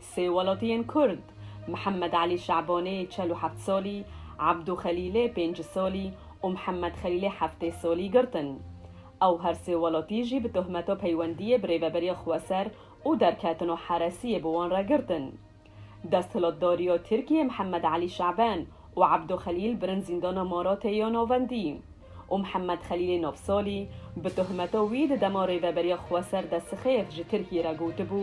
Sê welatiyên Kurd, Mihemed Elî Şabanê çel û heft salî, Ebdû Xelîlê pênc salî û Mihemed Xelîlê heftê salî girtin. Ew her sê welatî jî bi tohmeta peywendiyê bi rêveberiya xweser û derketino heresiyê bi wan re girtin. Desthilatdariya Tirkiyê Mihemed Elî Şaban û Ebdû Xelîl birin zîndana Maratê ya Navendî û Mihemed Xelîlê nav salî bi tohmeta wî di dema rêveberiya xweser Dessixêf ji Tirkiyê re gotibû,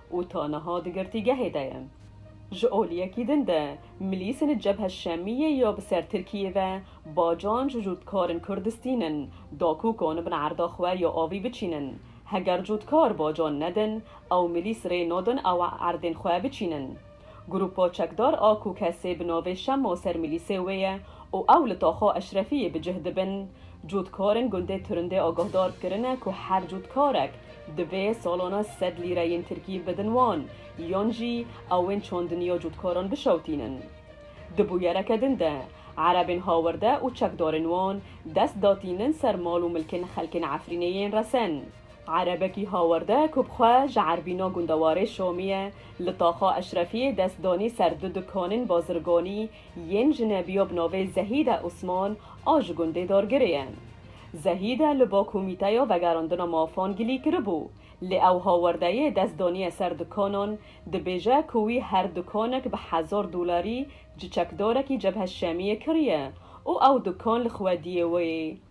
û ta niha di girtîgehê de ye. Ji oliyekî din de milîsên Cebhe Şemiyê ya bi ser Tirkiyê ve bacan ji cûtkarên Kurd distînin da ku kan bin erda xwe ya avî biçînin. Heger cûtkar bacan nedin ew milîs rê nadin ew erdên xwe biçînin. Grupa çekdar a ku kesê bi navê Şemo ser milîsê wê ye û ew li Taxa Eşrefiyê bi cih dibin, cotkarên gundê Turindê agahdar kirine ku her cotkarek divê salana sed lîreyên Tirkî bidin wan yan jî ew ên çandiniya cotkaran bişewtînin. Di bûyereke din de erebên hawerde û çekdarên wan dest datînin ser mal û milkên xelkên Efrînê yên resen. Erebekî hawerde ku bi xwe ji Erbîno gundewarê Şomiyê li Taxa Eşrefiyê dest danî ser du dukanên bazirganî yên jinebiya bi navê Zehîde Osman a ji gundê Dargirê ye. Zehîde li ba Komîteya Vegerandina Mafan gilî kiribû, lê ew hawerdeyê dest daniye ser dukanan, dibêje ku wî her dukanek bi hezar dolarî ji çekdarekî Cebhe Şemiyê kiriye û ew dukan li xwediyê wê ye.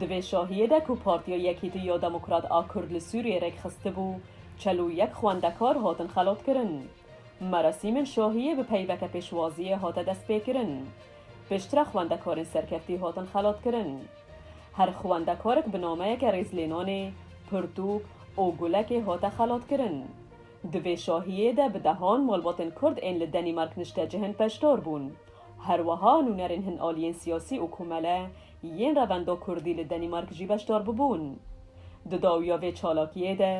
Di vê şahiyê de ku Partiya Yekîtî ya Demokrat a Kurd li Sûriyê rêkxistibû, çel û yek xwendekar hatin xelatkirin. Merasîmên şahiyê bi peyveke pêşwaziyê hate destpêkirin. Pêştre xwendekarên serkeftî hatin xelatkirin. Her xwendekarek bi nameyeke rêzlênanê, pirtûk û gulekê hate xelatkirin. Di vê şahiyê de bi dehan malbatên Kurd ên li Denîmark niştecihên peşdar bûn. Herweha nûnerên hin aliyên siyasî û komele Yên revenda kurdî li Danîmark jî beşdar bûbûn. Di dawiya vê çalakiyê de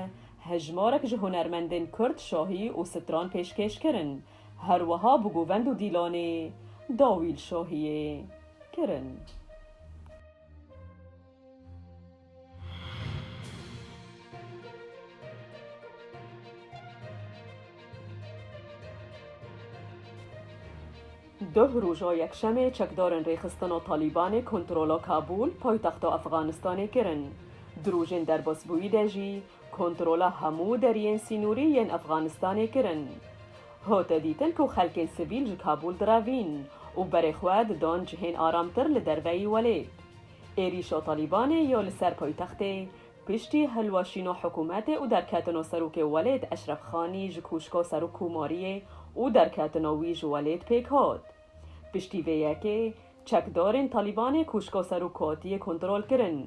hejmarek ji hunermendên kurd şahî û stran pêşkêş kirin, her wiha bi govend û dîlanê dawî li şahiyê kirin. Duh roja Yekşemê çekdarên Rêxistina Talîbanê kontrola Kabûl, paytexta Efxanistanê kirin. Di rojên derbasbûyî de jî kontrola hemû deriyên sînorî yên Efxanistanê kirin. Hate dîtin ku xelkên sivîl ji Kabûl direvîn û berê xwe didan cihên aramtir li derveyî welêt. Êrîşa Talîbanê ya li ser paytextê piştî hilweşîna hikûmetê û derketina Serokê Welêt Eşref Xanî ji koşka Serokkomariyê û derketina wî ji welêt pêk hat. Piştî vê yekê çekdarên Talîbanê koşka Serokatiyê kontrol kirin.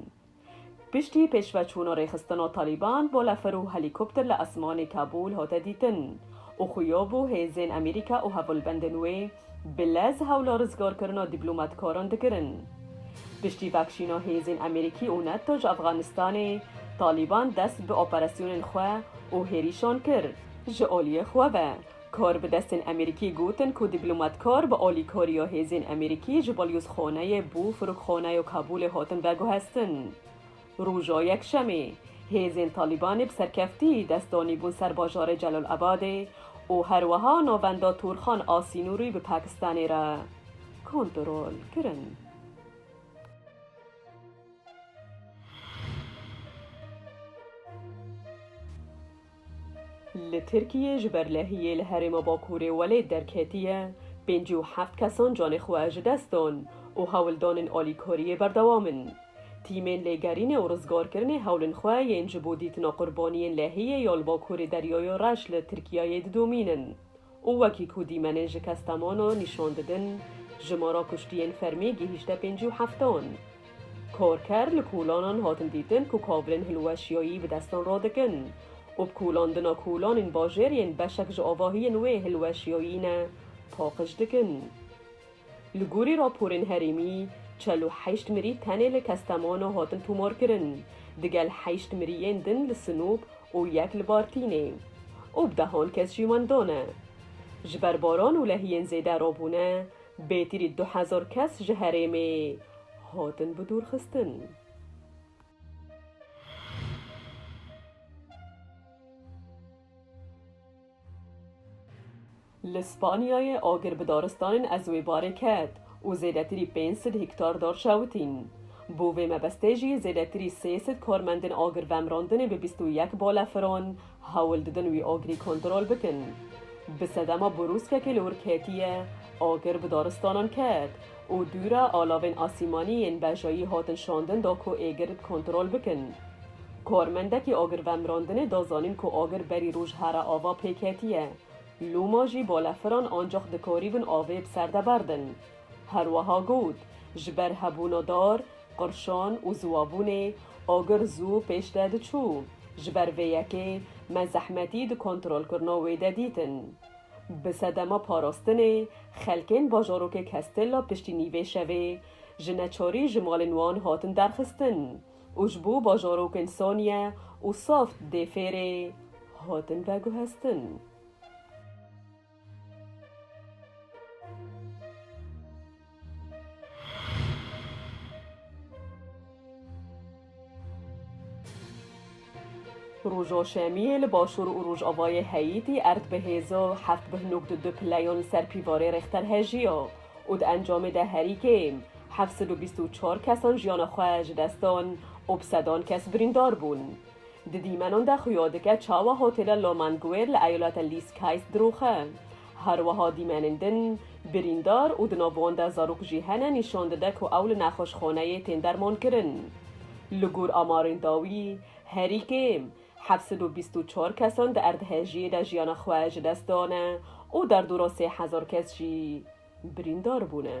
Piştî pêşveçûna rêxistina Talîban balefir û helîkopter li esmanê Kabûl hate dîtin û xuya bû hêzên Amerîka û hevalbendên wê Bi lez hewla rizgarkirina dîplomatkaran dikirin. Piştî vekşîna hêzên Amerîkî û Nato ji Afxanistanê, Talîban dest bi operasyonên xwe û hêrîşan kir. Ji aliyê xwe ve, karbidestên Amerîkî gotin ku dîplomatkar bi alîkariya hêzên Amerîkî ji balyozxaneyê bo firokxaneya Kabûlê hatin veguhestin. Roja Yekşemê, hêzên Talîbanê bi serkeftî dest danîbûn ser bajarê Celalabadê û her wiha navenda Turxan a sînorî bi Pakistanê re kontrol kirin. Li Tirkiyê ji ber lehiyê li herêma Bakurê welêt derketiye, pêncî û heft kesan canê xwe ji dest dan û hewldanên alîkariyê berdewam in. Tîmên lêgerînê û rizgarkirinê hewlên xwe yên ji bo dîtina qurbaniyên lehiyê ya li Bakurê Deryaya Reş li Tirkiyeyê didomînin. û wekî ku dîmenên ji Kastamonu nîşan didin, jimara kuştiyên fermî gihîşte pêncî û heftan. Karker li kolanan hatin dîtin ku kavilên hilweşiyayî bi destan radikin û bi kolandina kolanên bajêr yên beşek ji avahiyên wê hilweşiyayî ne paqij dikin. Li gorî raporên herêmî, çel û heşt mirî tenê li Kastamonu hatin tomarkirin, digel heşt miriyên din li Sinop û yek li Bartînê û bi dehan kes jî wenda ne. Ji ber baran û lehiyên zêde rabûne, bêtirî du hezar kes ji herêmê hatin bidûrxistin. Li Spanyayê agir bi daristanên ez wê barê ket û zêdetirî pênc sed hîktar dar çewitîn. Bo vê mebestê jî zêdetirî sê sed karmendên agirvemrandinê bi bîst û yek balefiran hewl didin wî agirî kontrol bikin. Bi sedema borûskekê li wir ketiye agir bi daristanan ket. û dûra alavên asîmanî yên bejayî hatin şandin da ku êgir bi kontrol bikin. Karmendekî agirvemirandinê da zanîn ku agir berî roj here ava pê ketiye. Lûma jî balefiran ancax dikarîbin avê bi ser de berdin. Her wiha got, Ji ber hebûna dar, qirşan û ziwabûnê agir zû pêş de diçû. Ji ber vê yekê me zehmetî di kontrolkirina wê de dîtin. Bi sedema parastinê, xelkên bajarokê Castella piştînî vê şevê ji neçarî ji malên wan hatin derxistin û ji bo bajarokên Saniye û Saft dê Fêrê hatin veguhestin. Roja Şemiyê li başûr û rojavayê Heyîtî erd bi hêza heft bih nokd du pileyan li ser pîvarê rêxter hejiya û di encamê de herî kêm heft sed û bîst û çar kesan jiyana xwe ji dest dan û bi sedan kes birîndar bûn. Di dîmenan de xuya dike çawa hotêla Lomanguer li eyaleta Lîskayst diroxe. Her wiha dîmenên din, birîndar û di nav wan de zarok jî hene nîşan dide ku ew li nexweşxaneyê tên dermankirin. Li gor amarên dawî, herî kêm heft sed û bîst û çar kesan di erdhejiyê de jiyana xwe ji dest dane û derdora sê hezar kes jî birîndar bûne.